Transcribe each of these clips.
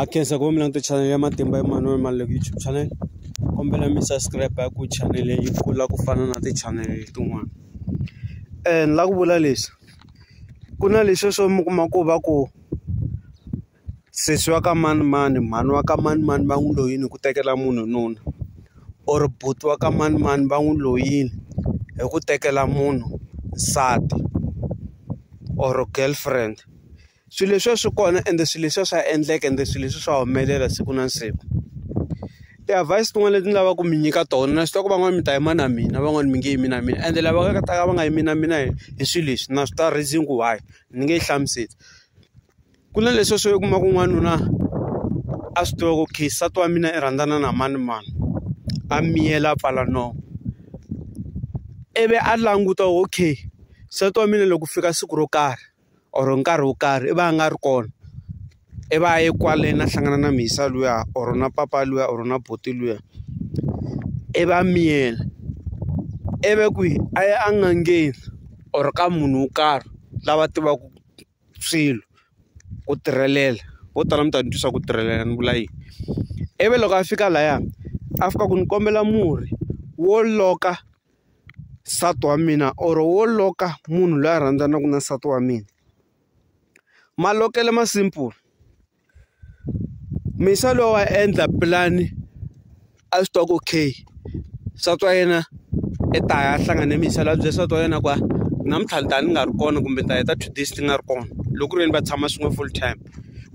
a khensa ku va mi langute channel ya matimba Emmanuel Maluleke YouTube channel kombela mi subscribe ku channel yi kula ku fana na ti-channel tin'wana ni la ku vula leswi ku na leswi swo mi kuma ku va ku sesi wa ka manimani mhani wa ka manimani va n'wi loyini hi ku tekela munhu nuna or buti wa ka manimani va n'wi loyini hi ku tekela munhu nsati or girlfriend. swilo leswiya swi kona ende swilo leswiya swa endleka ende swilo leswi swa humelela siku na siku ti-advise tin'wana leti ni lavaka ku mi nyika tona na swi tiva ku van'wani mi ta yima na mina van'wani mi nge yimi na mina ende lava nga ta ka va nga yimi na mina hi hi swilo leswi na swi ta reason ku why ni nge yi hlamuseli ku na leswiya swo u kuma ku n'wanuna a swi tiva ku okay nsati wa mina i rhandzana na mani mani a miyela a pfala nomu ivi a languta okay nsati wa mina loko ku fika siku ro karhi. or nkarhi wo karhi i va a nga ri kona i va ye kwale na hlangana na mhisa luya or na papa luya or na buti luya i va miyela ivi kwihi a ya a n'angeni or ka munhu wo karhi lava tivaku swilo ku tirhelela vo tala mi ta ni twisa ku tirhelela ni vula yini ivi loko a fika laya a fika ku ni kombela murhi wo loka. nsati wa mina or wo loka munhu loyi a rhandzanaka na nsati wa mina malokelo ma simple musa loyi wa endla pulani a swi tiva ku okay nsati wa yena i ta ya hlangana ni musa loyi a bye nsati wa yena ku a namuntlha ni ta ni nga ri kona kumbe ni ta heta two days ti nga ri kona loko ku ri yini va tshama swin'we full time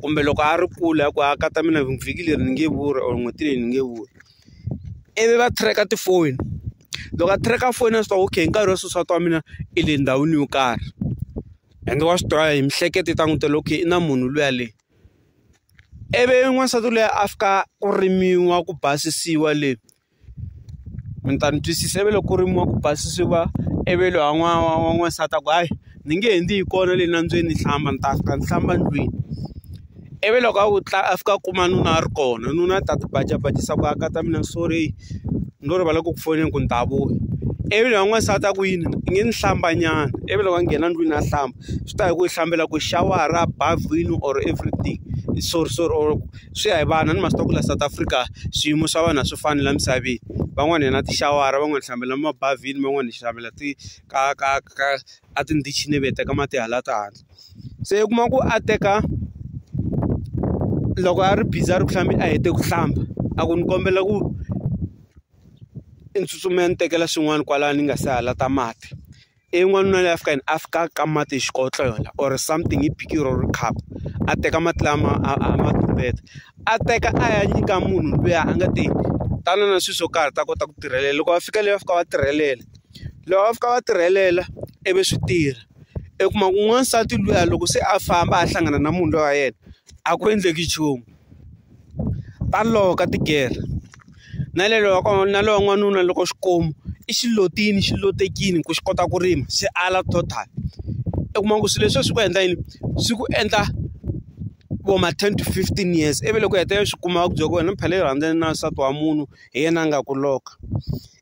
kumbe loko a ri kule a ku a ka ta mina vhiki leri ni nge vuri or n'hweti leyi ni nge vuri. ivi va track-a tifoni loko a track-a foni a swi tiva okay hi nkarhi wa sweswiwa wa mina i le ndhawini yo karhi ende wa swi tiva hi miehleketo yi ta n'wi byela okay i na munhu luya le ivi n'wansati luya a fika ku rimiwa ku basisiwa le mi ta ni twisisa ivi loko ku rimiwa ku basisiwa ivi lwa n'wana wa n'wansati a ku hayi. ni nge he ndzi yi kona le nambyeni ni hlamba ni ta fika ni hlamba ndlwini ivi loko a ku a fika a kuma nuna a ri kona nuna a ta ti baca bacisa ku aka ta mina sorry ni lo rivala ku ku foneni ku ni ta vuya ivi loyi wa n'wansati a ku yini i nge ni hlamba nyana ivi loko a nghena ndlwini a hlamba swi ta hi ku yi hlambela ku xawara bavhini or everything sorry sorry or swi ya hi vana ni ma swi tiva ku la South Africa swiyimo swa vanhu a swi fani la misaveni van'wani hi na tixawara van'wani hi hlambela mabavhini van'wani hi hlambela ti. ka ka ka a tindichini ivi hi teka mati hala ta hala se u kuma ku a teka loko a ri busy a ri ku hlambeni a hete ku hlamba a ku ni kombela ku i ni tsutsumela ni tekela swin'wana kwalano ni nga se hala ta mati ivi n'wanuna loyi a fika yini a fika a ka mati hi xikotlo yona or something hi bikiri or khapu a teka mati lama a a ma tumbeta a teka a ya nyika munhu luya a nga te tana na swilo swo karhi ta kota ku tirhelela loko va fika leyi va fika va tirhelela. loko va fika va tirhelela ivi swi tirha u kuma ku n'wansati luya loko se a famba a hlangana na munhu loyi wa yena a ku endleki nchumu ta loko ka tigere na le wa kona na lowa n'wanuna loko swi kuma i xi lotile xi lotekile ku xi kota ku rima xi ala total u kuma ku swilo leswi swi ku endla yini swi ku endla vo ma ten to fifteen years ivi loko u hetelela swi kuma va ku byela ku wena phela u rhandzana na nsati wa munhu hi yena a nga ku lock-a.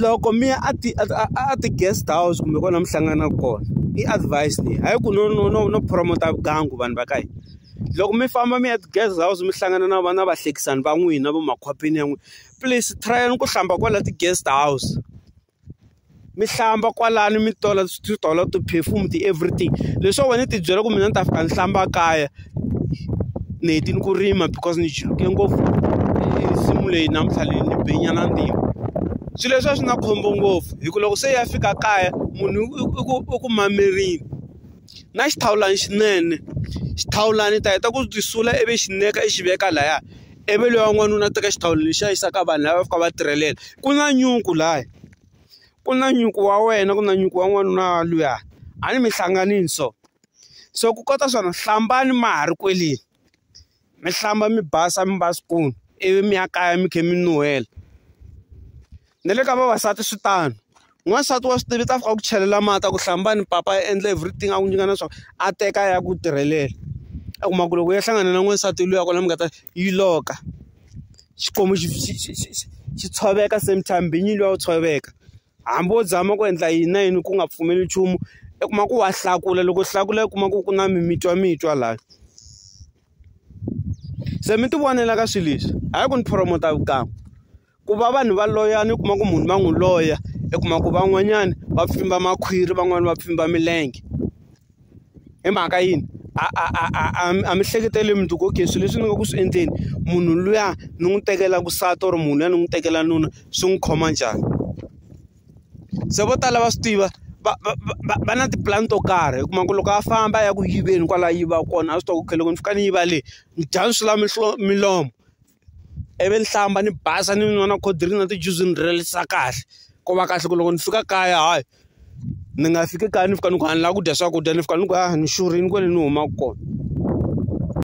loko mi ya a ti a ti guest house kumbe kona mi hlanganaka kona i advise leyi hayi ku no no no no promote vugangu vanhu va ka hina loko mi famba mi ya ti guest house mi hlangana na vana vahlekisani va n'wina va makhwapeni ya n'wina please try ku hlamba kwala ti guest house. mi hlamba kwalano mi tola swi tola ti-perfume ti-everything leswo wena ti byela ku mina ni ta fika ni hlamba kaya ni hetile ku rima because ni chuluke ngopfu nsimu leyi namuntlha leyi ni benyana ntima swilo leswi a swi na khombo ngopfu hi ku loko se ya fika kaya munhu i ku i ku mamerile na xithawulana xinene xithawulana ta heta ku sula ivi xineka i xi veka laya. ivi loyi wa n'wanuna a teka xihlawulo lexi a yisaka vanhu lava fika va tirhelela ku na nyuku laya ku na nyuku wa wena ku na nyuku wa n'wanuna luya a ni mi hlanganile so so ku kota swona hlambani ma ha ri kwele mi hlamba mi basa mi va swikulu ivi mi ya kaya mi kha mi nuhela na le ka vavasati swi tano. N'wansati wa swi tiva i ta fika a ku chelela mati a ku hlamba ni papa a endla everything a ku nyika na swa a teka a ya ku tirhelela a kuma ku loko ya hlangana na n'wansati luya kona mi nga ta yi loka xikwembu xi xi xi xi xi tshoveka same time binyi luya wu tshoveka hambi wo zama ku endla yini na yini ku nga pfumeli nchumu i kuma ku wa hlakula loko hlakula i kuma ku ku na mimitwa mitwa laya se mi ti vonela ka swilo leswi hayi ku ni promote vukan'we. Ku va vanhu va loyana u kuma ku munhu va n'wi loya i kuma ku van'wanyana va pfimba makhwiri van'wani va pfimba milenge hi mhaka yini a a a a a a mi hleketeli mi ku okay swilo leswi ni nga ku swi endleni munhu luya ni n'wi tekela vusati or munhu luya ni n'wi tekela nuna swi n'wi khoma njhani se vo tala va swi tiva va va va va na tipulani to karhi hi kuma ku loko a famba a ya ku yiveni kwala a yiva kona a swi tiva ku okay loko ni fika ni yiva le ni dya swi la milomo. ivi ni hlamba ni basa ni nwa na cold drink na tijuzi ni rilisa kahle ku va kahle ku loko ni fika kaya hayi ni nga fiki kaya ni fika ni ku a ni lava ku dya swakudya ni fika ni ku a ni xurhile kwale ni humaka kona.